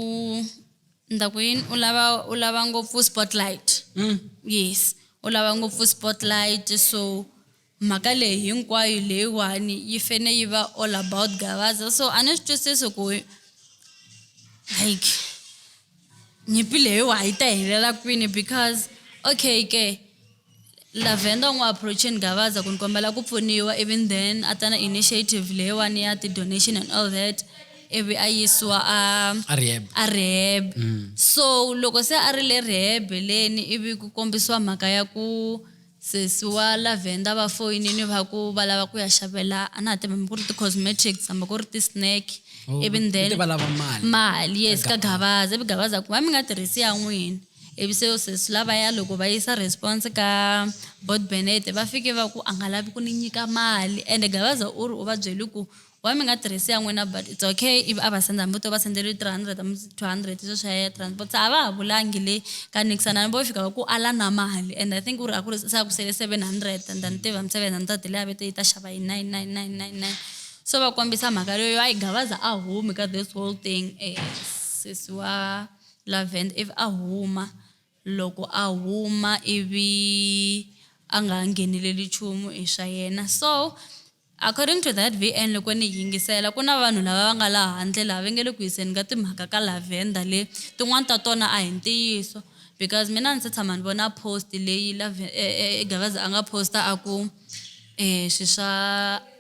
ndza ku yini u lava u lava ngopfu spotlight mm. yes u lava ngopfu spotlight so mhaka leyi hinkwayo leyiwani yi fene yi va all about gavaza so a ni swi twisisi ku like nyimpi leyiwa yi ta helela kwini because okay ke lavenda u n'wi approacheni gavaza ku ni kombela ku pfuniwa even then a ta na initiative leyiwani ya ti-donation and all that ivi a yisiwa a a rehab a rehab mm. so loko se a ri le rehab leni ivi ku kombisiwa mhaka ya ku Sesi wa lavender va foyinini va ku va lava ku ya xavela a na ha tivi hambi ku ri ti-cosmetics hambi ku ri ti-snack Oh, ivi ku then te va lava mali. mali yes ka gavaza ivi gavaza ku va mi nga tirhisi ya n'wina ivi se yo sesi lavaya loko va yisa response ka bot benete va fike va ku a nga lavi ku ni nyika mali ende gavaza u ri u va byele ku why mi nga tirhisi ya n'wina but it's okay ivi a va senda hambi to va sendeliwe three hundred hambi two hundred sweswo swa ya transport se a va ha vulangi le ka nixana hambi vo fika va ku ala na mali and i think u ri a ku ri se a ku sele seven hundred and then tiva mi seven hundred leyi a ve te yi ta xava hi nine nine nine nine nine so va kombisa mhaka leyo a yi gavaza a humi ka this whole thing um sesi wa lavend ivi a huma Loko a huma ivi a nga ha ngheneleli nchumu i swa yena. So according to that VN loko ni yingisela ku na vanhu lava va nga la handle laha va nge le ku yiseni ka timhaka ka Lavender le tin'wana ta tona a hi ntiyiso because mina a ni se tshama ni vona post leyi Gavaza a nga post a ku. eh, swi swa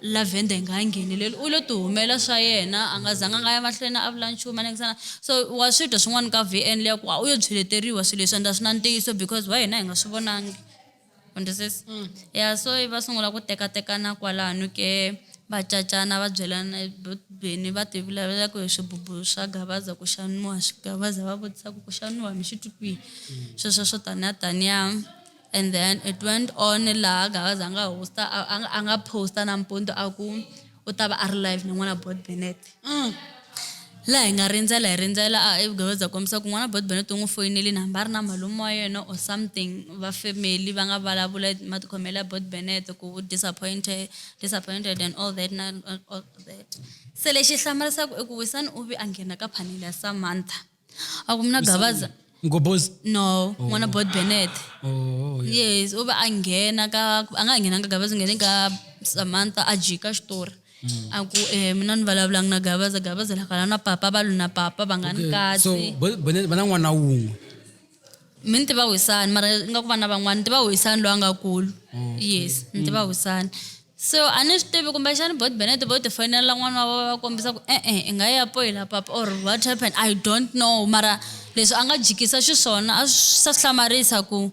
lavender hi nga ha ngheneleli u lo tihumela swa yena a nga zanga a nga ya mahlweni a vula nchumu anekisana so wa swi dya swin'wana ka v n leya ku a u yo byeleteriwa swilo leswi enda swi na ntiyiso because wa hina hi nga swi vonangi understand mm. ya so va sungula ku tekatekana kwalano ke va cacana va byelana beni va tivulavula ku swibubu swa gavaza ku xaniwa gavaza va vutisa ku ku xaniwa mi xi twi kwihi mm. sweswo swo taniya taniya And then it went on laha Gavaza a nga hosta a, a, a nga posta nampundzu a ku u ta va a ri live ni n'wana Bot Benet mm. laha hi nga rindzela hi rindzela a Gavaza kombisa ku n'wana Bot Benet u n'wi foyineli ni hamba a ri na malume wa yena or something va family va nga vulavula matikhomelo ya Bot Benet ku u disappointed disappointed and all that na all that se lexi hlamarisaka i ku Wisani u vi a nghena ka phanele ya Samantha akumna gavaza mgobhozi no n'wana bot benet oh, yeah. yes u va a nghena ka a nga ha nghenanga gavaza nghene ka samantha a jika xitori mm. a ku um mina ni vulavulanga na gavaza gavaza lakala na papa va lu na papa va nga ni kasi so va na n'wana wun'we mi ni tiva wisani mara nga ku vana van'wana ni tiva wisani loyi a nga kulu yes ni tiva mm. wisani so a ni swi tivi kumbexani bot benet vo ti foyinela n'wana wa va kombisa ku e-e i nga ya poyila papa or what happened i don't know mara leswi a nga jikisa xiswona a swi sa swi hlamarisa ku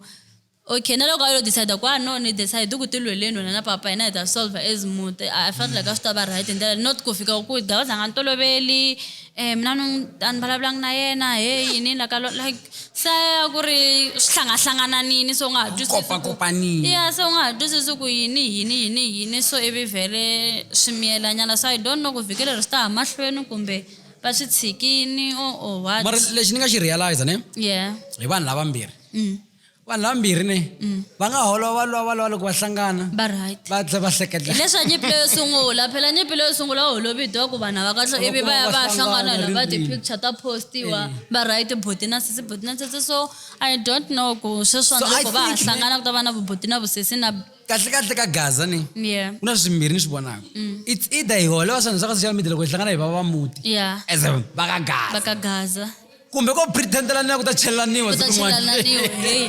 okay na loko a yo decide ku a ah, no ni decide ku ti lweleni wena na papa hina hi ta solve as muti a felt like a swi ta va right hi ndlela not ku fika ku dawuza nga ni toloveli um mina ni a ni vulavulanga na yena he yini la ka like se ku ri swi hlangahlangananini so u nga ha twisisiya ya se u nga ha twisisi ku yini yini yini yini so ivi vhele swi miyelanyana so i don't know ku vhiki leri swi ta ha mahlweni kumbe va swi tshikini o o what mara lexi ni nga xi realize ne yeah hi vanhu lavambirhi mm. vanhu vambirhi ne mm. va nga holova lwa va lwa loko va hlangana va right va tlhe va seketla leswa nyipilo yo sungula phela nyipilo yo sungula holovi dwa ku vanhu va kahle ivi va ya va hlangana la va ti picture ta postiwa va eh. right bhuti na sisi bhuti na sisi so i don't know ku sweswa loko va hlangana ku ta va na vubhuti na vusesi na kahle kahle ka gaza ni yeah kuna swimbirhi ni swi vonaka mm. it's either hi holova swa swa ka social media loko hi hlangana hi va va muti yeah as va ka gaza va ka gaza kumbe ko pretendelaniwa ku ta chelelaniwa ku ta siku rin'wana. chelelaniwa hey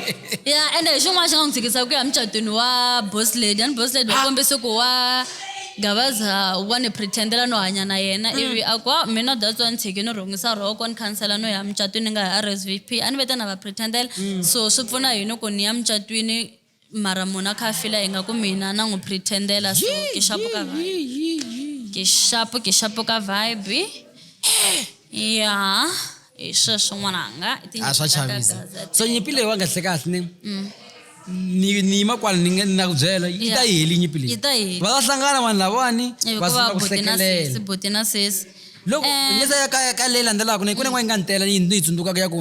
ya ende hi xin'wana xi nga n'wi tshikisa ku ya emucatwini wa boss lady and boss lady wa Ah. kombisa ku wa gavaza wa ni pretendela no hanya na yena Mm. ivi a ku "Ah, mina that's why ni tshike ni rhungisa rhoko ni khansela no ya mucatwini ni nga ya rsvp a ni vete na va pretendela Mm. so swi pfuna yini ku ni ya mucatwini Mara munhu a kha a fila ingaku mina na n'wi pretendela so Yee, kixapuka yee, vibe yee, yee, yee. kixapu kixapuka vibe ya hi sweswo n'wananga i tinyimpfu a swa ta chavisa gagaza. so nyimpi leyi wa kahle kahle ne ni ni yima kwala ni nga- ni na ku byela yi ta yi heli nyimpi leyi Yi ta yi heli. va ta hlangana vanhu lavawani va hikuva sungula ku buti na sesi hlekelela buti na sesi loko Eh. ngeza ya ka ka leyi landzelaka ne ku ne n'wana yi nga ni tela ni yi ni yi tsundzukaka ya ku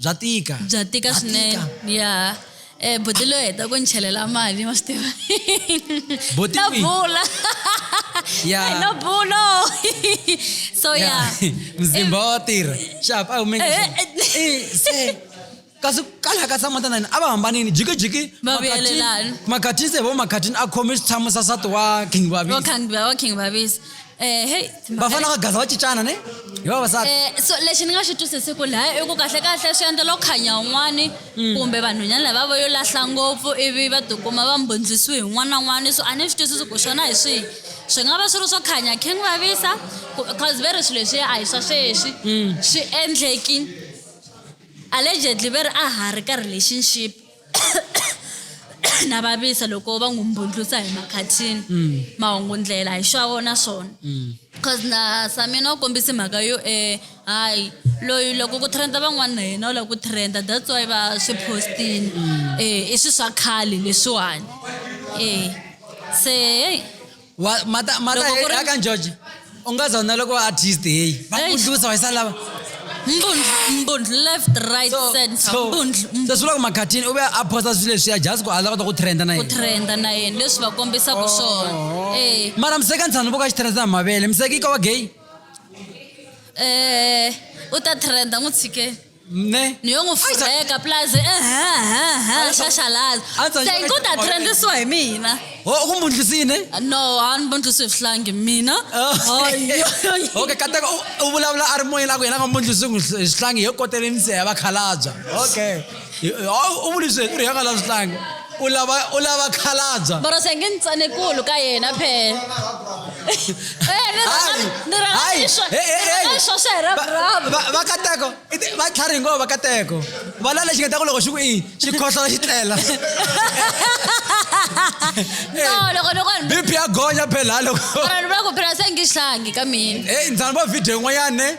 bya tika bya tika swinene ya eh buti loyi heta ku ni chelela mali ma swi tiva na bula yeah. no bulo so ya mzimba wa tirha xap a humeka eh, eh, eh. kasi kala ka tshama tanani a va hambanini jikijiki makhatini se vo makhatini a khome xitshamo xa sati wa king babis um hey va fanele va gaza va cincana ne hi vavasati Eh, so lexi ni nga xi twisisiku laha i ku kahlekahle swi endlela ku khanya un'wani Mm. kumbe vanhwanyana lava va yo lahla ngopfu ivi va tikuma va mbundzisiwe hi n'wana na n'wana so a ni swi twisisi ku xona hi swihi swi nga va swi ri swo khanya khe n'wi vavisa ku- cause ve ri swilo leswiya a hi swa sweswi Mm. swi endleki allegedly ve ri a ha ri ka relationship na vavisa loko va n'wi mbundlusa hi makhathini mm. mahungu ndlela hi swa vona swona mm. cause na samina u kombise mhaka yo um hayi loyi loko ku trenda van'wana na yena u lava ku trenda that's why va swi postini um i swi swa khale leswiwani um se heyi Wa- mata mata Loko ku ri- aka njoji u nga zona loko va artist heyi va Eish. kudlusa wa yisa lava mbundlu mbundlu left right So- center so- mbundlu so mbundlu. swi vula ku makhatini u ve a phosta swilo leswiya just ku a lava kota ku trenda na ku yena trenda na yena leswi va kombisaka Oh. swona Eh, mara miseka ntshanu vo ka xi trenda hi mavele miseka yi ka wa gay eh, u ta trenda n'wi tshikeni ne ni yo n'wi furheka plus ehehe xaxalaza A ndzi se thank u ta xaxalaza. trendisiwa hi mina ho u ku mbundlisini no a ni mbundlisi hi swihlangi mina Oh. okay kateka u- u vulavula a ri moyeni a ku yena nga mbundlisi n'wi hi swihlangi hi yo kotele misiha ya vakhalabya okay Hi- hi- u vuli sweswi u ri hi nga lavi swihlangi u lava u lava khalabya Mara se nge ni tsanekulu ka yena phela. Eh, ni rhanga- Hayi, ni rhanga hayi, ni swa- eh, eh, ni rhanga eh. ni swa swa hi ra Va- bravo. va- vakateko i ti- va tlhari ngova vakateko va la lexi nga ta ku loko xi ku i xi khohlola xi tlela No, loko loko ni- bp ya gonya phela loko mara ni vula ku phela se nge xihlangi ka mina. heyi ndzani vo video yin'wanyane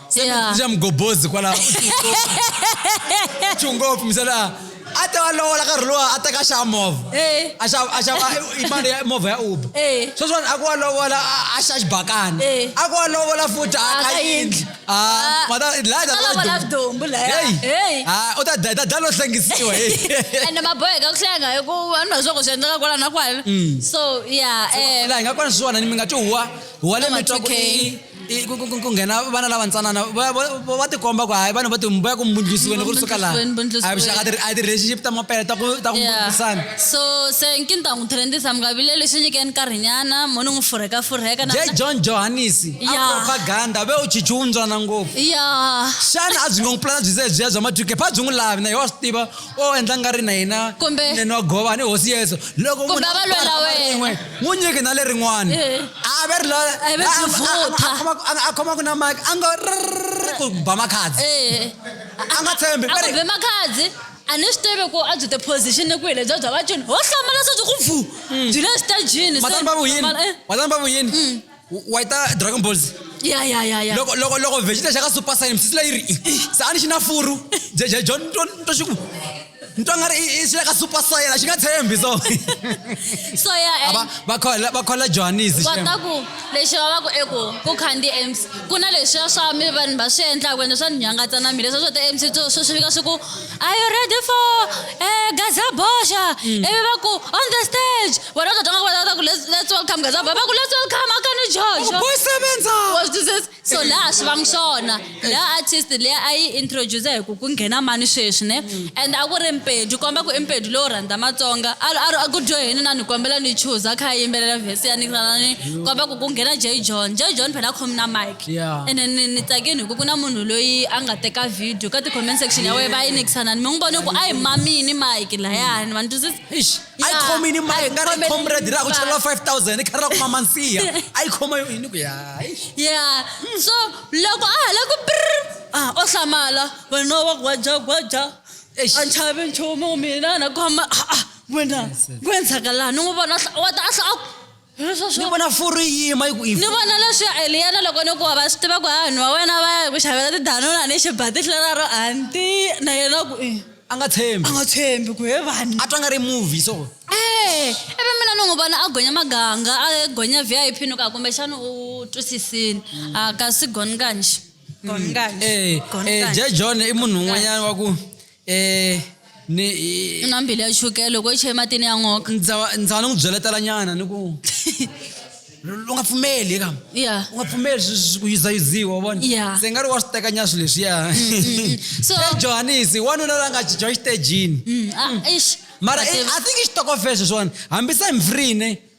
Yeah. swa mugobozi kwalaho tshu ngopfu misala a ta va lovola karhi lowa a teka xava movha Eh. a xava a xava i- mali ya movha ya uber Eh. sweswiwani a ku wa lovola a- a xa xibakana Eh. a ku wa lovola futhi a A ka ka yindli yindli. Ah, Ah. mata laya ta A lovola vudumbu laya. Hey. Ah, u ta da- ta da lo hlengisiwa hey. and maboheka ku hlenga hi ku vanhu va swa ku swi endleka kwala na kwala so yeah um laha hi nga kwana swona ni mi nga ti huwa huwa le Number mitwa ku 2K. i I- ku- ku- ku- ku nghena vana lava ntsanana va- va va- va tikomba ku hayi vanhu va ti- va ya ku mbundlisiweni ku ri suka laha Mbundlisiweni, mbundlisiweni. a hi vuxaka ti- a hi ti-relationship ta mapele ta ku ta ku Yeah. mbundlisana so se nkinta n'wi thelendisa mi nga vileli swi nyikeni nkarhinyana mo ni n'wi furheka furheka na- je john johanisi a Yeah. propaganda ve u chichi wuntswana ngopfu ya xana a byi nga n'wi pulana byi ze byiya bya maduke pha byi n'wi lavi na hi wa swi tiva o endla nga ri na hina Kumbe- nene wa gova ni hosi yesu loko Kumbe munhu a va lwela khoma wena. rin'we, n'wi nyiki na lerin'wana Eh. a ve ri lo- A ve a- a- vutha. a- a khoma- a- a khomaka na mike a ngo rrrr ku ba makhadzi Eh, a nga tshembi a va ri- kumbe makhadzi a ni swi tivi ku a byi tiposition ni kwihi lebya bya vacini ho hlamala se byi ku bvu byi le stajini matani va vuyini matani va vuyini wa yi ta dragon balls ya ya ya ya loko loko loko vegeta xa ka super science sisi leyi ri se a ni xi na furu jeje john to to xiku ni twa nga ri i xi le ka super science a xi nga tshembi so so ya A va- va khola va khola johannes va ta ku lexi va va ku eku ku khandziya mc ku na leswiya swa mi vanhu va swi endlaka ende swa ni nyangatsa na mina leswiya swo ta mc swo swi fika swi ku Are you ready for uh, Gazabosha? Mm. Everyone go on the stage. We're not talking about that. Let's, let's welcome Gazabosha. Let's welcome Akani George. Oh, boy, sebenza. Was this is so la shona. La artist le I introduce her ku kunghena mani sweswi ne. Hmm. And a ku ri Mpedu komba ku Mpedu lo rhandza Matsonga. A ku dyo yini na ni kombela ni chuza kha yimbelela verse ya ni komba ku kunghena J John. J John phela khomna mic. Yeah. ene ni ni tsakeni hi ku ku na munhu loyi a nga teka video ka ti-comment section ya wena va yi nikisanani mi n'wi vone ku a hi mamini mike layani ma ni twisisa Eish, a yi Yeah, khoma yini a maye yi nga ri khome comrade yini ra ku cheriwa mike. 5000 i khari ra ku mama nsiya a yi khoma yini ku ya eish. ya so loko a ha la ku prr a o hlamala wena wa gwajagwaja Eish. a ni chavi nchumu mina na khoma a a wena ku endlaka laha ni n'wi vona a hla- wa ta a hla a ku hi ni sweswo vona furu yi yima yi ku yi ni vona leswi ya eliyana loko ni ku wa va swi tiva ku vanhu va wena va ya ku xavela tidanuna ni xibatihla raro anti na yena ku i a nga tshembi a nga tshembi ku he vanhu a twa nga ri movie so e ivi mina ni n'wi vona a gonya maganga a gonya v i p ni ku a kumbexana u twisisini a kasi goni kanji goni kanji e, e, je john i munhu un'wanyana wa ku Eh, ni u na mbilu ya chukele loko i cheye matini ya nkoka ndza ndza ni n'wi byeletela nyana ni ku u nga pfumeli eka ya u nga pfumeli swi- swi- ku yuzayuziwa wa vona Yeah. se nga ri wa swi tekanya swilo leswiya so e johanisi wanuna la nga cinca exitejini Mm, ah, eish. mara But- i- i think i xitokofela sweswiwani hambisa hi mfrine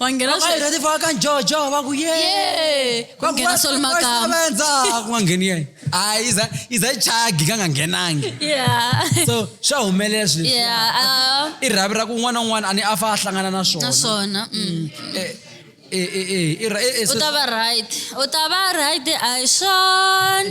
wangena Vavayeri sweswi. leti vaka njojo va ku ye Yee, ku Va nghena ku, Sol "Wa Makamba." sevenza." ku nga ngheni yena hayi iza iza chagi ka nga nghenangi Yeah. so swa humelela swilo leswi. Yeah, ah, i rhavi ra ku un'wana na un'wana a ni a fa a hlangana na swona naswona mm. Eh, eh, eh, eh, i ra- eh, eh, u so- ta va right u ta va right a hi swona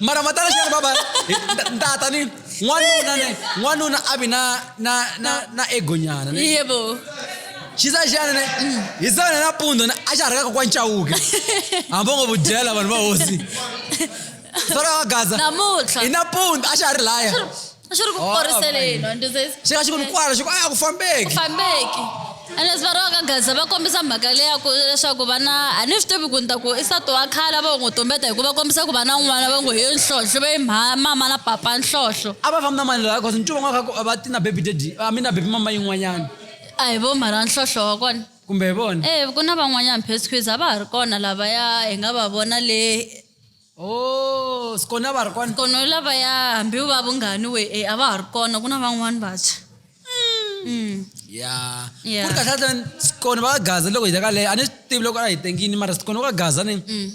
mara matala xana baba tata ni n'wanuna ne n'wanuna a vi na na na na egonyana ne yebo xisa xana ne hi sana nampundzu ne a xa ha ri ka kokwa ncawuke hambi ngo vudyela vanhu va hosi fana va gaza namuntlha hi nampundzu a xa ha ri laya swi ri ku Oh, koriseleni wa ndzi swi nga xi ku ni kwala xi ku a ku fambeki fambeki ene swi va ri va ka gaza va kombisa mhaka leya ku leswaku vana a ni swi tivi ku ni ta ku i sati wa khale a va n'wi tumbeta hikuva va kombisa ku vana un'wana va ngo hi nhlohlo va yi mha- mama na papa nhlohlo a va fambi na mani laha cause ncuva n'wana ka va ti na baby daddy a mi na baby mama yin'wanyana a hi vo mhara nhlohlo wa kona kumbe hi vona e ku na van'wanyana petsquiz a va ha ri kona lavaya hi nga va vona le Oh, skona va ri kona. Kono lavaya hambi va vunghani we e a va ha ri kona ku na van'wani vantshwa. Mm. Ya. Yeah. Ku ri kahle kahle skona va gaza loko hi ta ka leyo a ni swi tivi loko a hi tengini mara skona va gaza ni Mm.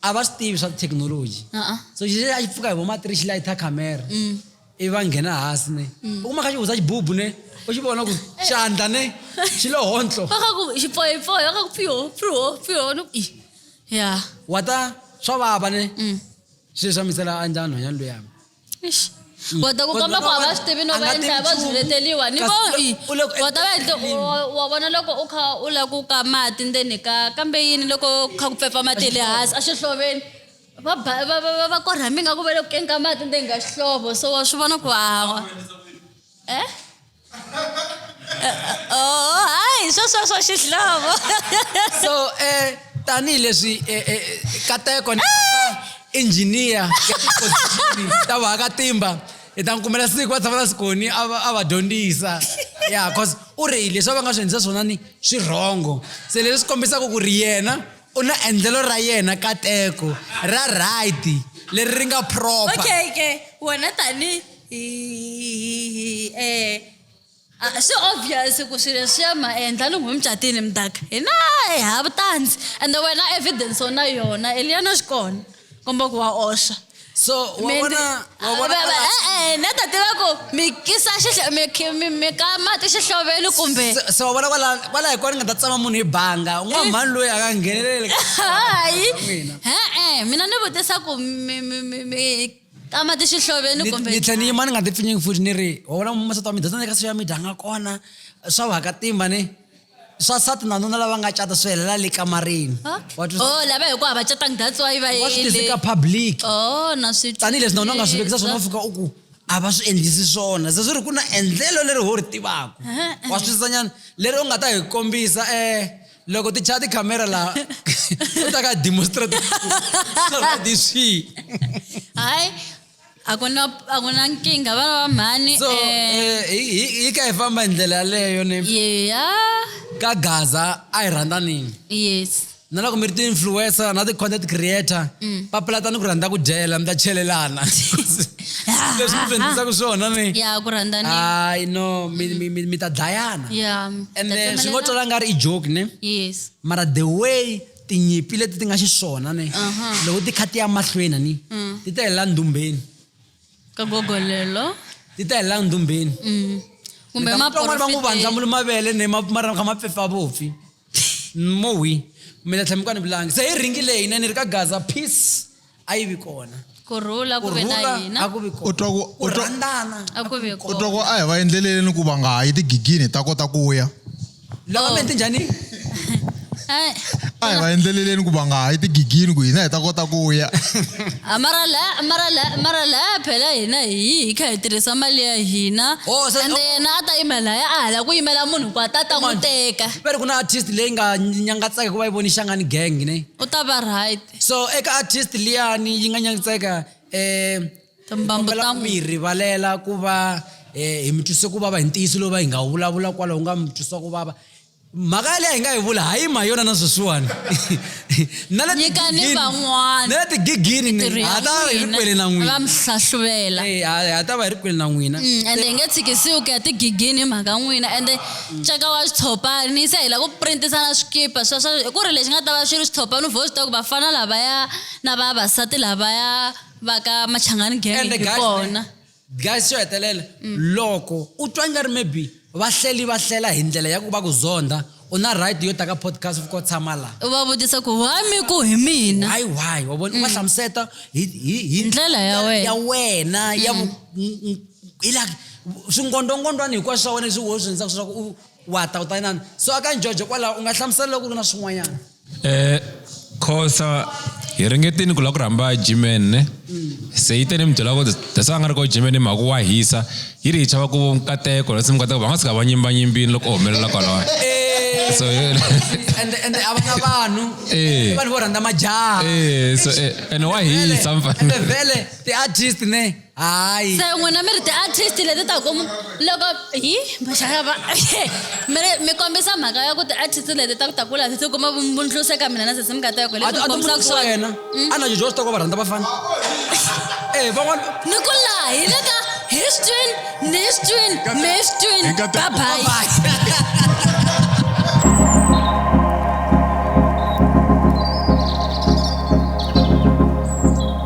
a va swi tivi swa thekinoloji. Uh-uh. So xi a xi pfuka hi vo matiri xi layitha camera. Mm. i va nghena hasi ne mm. u kuma kha xihuza xibubu ne u xi vona ku eh. xandla ne xi lo hontlo vakaku xipoyipoi vakaku pio pio pio no i ya wa ta swa vava ne mm. swi leswi amisela a njhani nhwanyana luyami mm. wa ta ku kamba ku a va swi tivi no va endla va zvileteliwa ni vo i wa ta va endle wa vona loko u kha u lava ku ka mati ndzeni ka kambe yini loko kha ku pfepfa mati ya le hansi a xihloveni va ba- va va va- va korha mi nga ku va le ku keni ka mati ndzeni ka xihlovo so wa swi vona ku hawa e oh hayi sweswo swa xihlovo so um tanihileswi eh, eh, kateko ni injiniya ya tipozixini ta vahakatimba hi ta n'wi kumela siku va tshama na sikoni a va- a va dyondzisa ya cause u ri leswi a va nga swi endlisa swona ni swi rhongo se leswi swi kombisaka ku ri yena U na endlelo ra yena kateko ra right leri ri nga proper. Okay ke wena tani hi hi eh ah, swi obvious ku swilo leswiya ma endla loko mi catile mudaka hina hi hava tandzi ende wena evidence u na yona eliana swi kona komba ku va oxa so wawona wawona e-e na ta tiva ku mi kisa mi ka mati xihloveni kumbe se wa vona kwala kwala hi kona ni nga ta tsama munhu hi banga u nga eh. mhani loyi a nga ngheneleli hayi e-e mina ni vutisa ku ka mati xihloveni kumbe ni tlhe ni yima ni nga ti pfinyingi futhi ni ri wa vona masata wa mi dyondza ni ka social media nga kona swa va ka timba ni swasati nanuna lava nga cata swi helela le kamarini wa twisisa? oh lava hi ku hava catanga that's why va wa swi yele tiseka public oh na swi tanihileswi na wena u nga swi vekisa swona u fika u ku a va swi endlisi swona se swi ri ku na endlelo leri ho ri tivaka wa swi twisisanyana leri u nga ta hi kombisa um loko ti chaya tikhamera laha u ta ka demonstrate swi hayi a ku na a ku na nkingha vana va mhani so eh, eh, hi- hi hi ka hi famba hi ndlela yaleyo ni yeya ka gaza a hi rhandanini yes na loko mi ri ti-influencer na ti-content creator papalatani ku rhandza ku dyela mi ta chelelana leswi mi dyondzisaka swona ni ya ku rhandzani hayi no mi- mi- mi mi ta dlayana ya and then swi ngo twala nga ri i joke ne yes mara the way tinyimpi leti ti nga xiswona ni loko ti kha ti ya mahlweni ni mm. ti ta helela ndhumbeni ka gogolelo ti ta helela ndhumbeni mm. kumbe van'wana va n'wi vandza mulu mavele ni mara kha mapfefa vopfi mowi mina tlhela mi ka ni vulangi se hi ringi leyi ne ni ri ka gaza peace a yi vi kona ku rhula ku ku ve na rhula a hina ku vi kona U twa ku- ku u twa- rhandzana a ku ve u kona twa ku a hi va endleleleni ku va nga ha yi tigigini hi ta kota ku ya lava mente njhani Ai, a hi va endleleleni ku va nga ha yi tigigini ku hina hi ta kota ku ya ah, mara la mara la mara la phela hina hi yi hi kha hi tirhisa mali ya hina Oh, se- ende oh. yena a ta yimela ya a hala ku yimela munhu ku a ta ta n'wi teka va ri ku na artist leyi nga nyangatsaka ku va yi voni xangani gang ne u ta va right so eka artist liyani yi nga nyanyitseka um Timbambu ta mu- yi rivalela ku va um hi mi twise ku vava hi ntiyiso lowu va hi nga wu vulavula kwalaho nga mi twisa ku vava mhaka yaleyi hi nga yi vula ha yi ma yona na sweswiwani na le Nyikani tigigini- van'wana. na le tigigini ni- Tirhi ya ha ta va hi ri n'wina, kwele na va n'wina mi hlahluvela Eh, ha ha ta va hi ri kwele na n'wina Mm, ende hi nge tshikisiwi ku ya tigigini hi mhaka n'wina ende nceka wa switshopani se hi lava ku printisana swikipa sweswo hi ku ri lexi nga ta va xi ri switshopani u vho swi tiva ku vafana lavaya na vavasati lavaya va ka machangani genge hi kona guys xo hetelela mm. loko u twa nga ri maybe vahleli va hlela hi ndlela ya ku va ku zonda u na right yo ta ka podcast u ko tshama la u va vutisa ku why mi ku hi mina hayi why wa vona u va mm. hlamuseta hi ndlela ya wena ya wena ya mm. ila swingondongondwana hinkwaswo swa wena leswi wo swi endlaka leswaku u wa ta u ta inana so aka njojo kwalaho u nga hlamusela loko ri na swin'wanyana um khosa hi ringetini ku lava ku rhamba jimen ne se yi te ni mi byela ku that's why a nga ri ko jimen ni mhaka wa hisa yi ri hi chava ku nkateko lasi mikateko va nga suka va nyimbanyimbini loko u humelela kwalawa so ende ende a va na vanhu Eh. i vanhu vo rhandza majaha Eh, so, eh, ene wa hisa mfana. ende vhele ti-artist ne hayi se n'wina mi ri ti-artist leti ta ku loko hi maxakava mi ri- mi kombisa mhaka ya ku ti-artist leti ta ku ta kula ti kuma vumbundluse ka mina na sesi mi nga ta yoko a ti- a tikombisaka timusa swona wena a na jojo swi ta ku va rhandza vafana e van'wana ni ku laha hi le ka histin nistin mistin Hi nga ta- babayi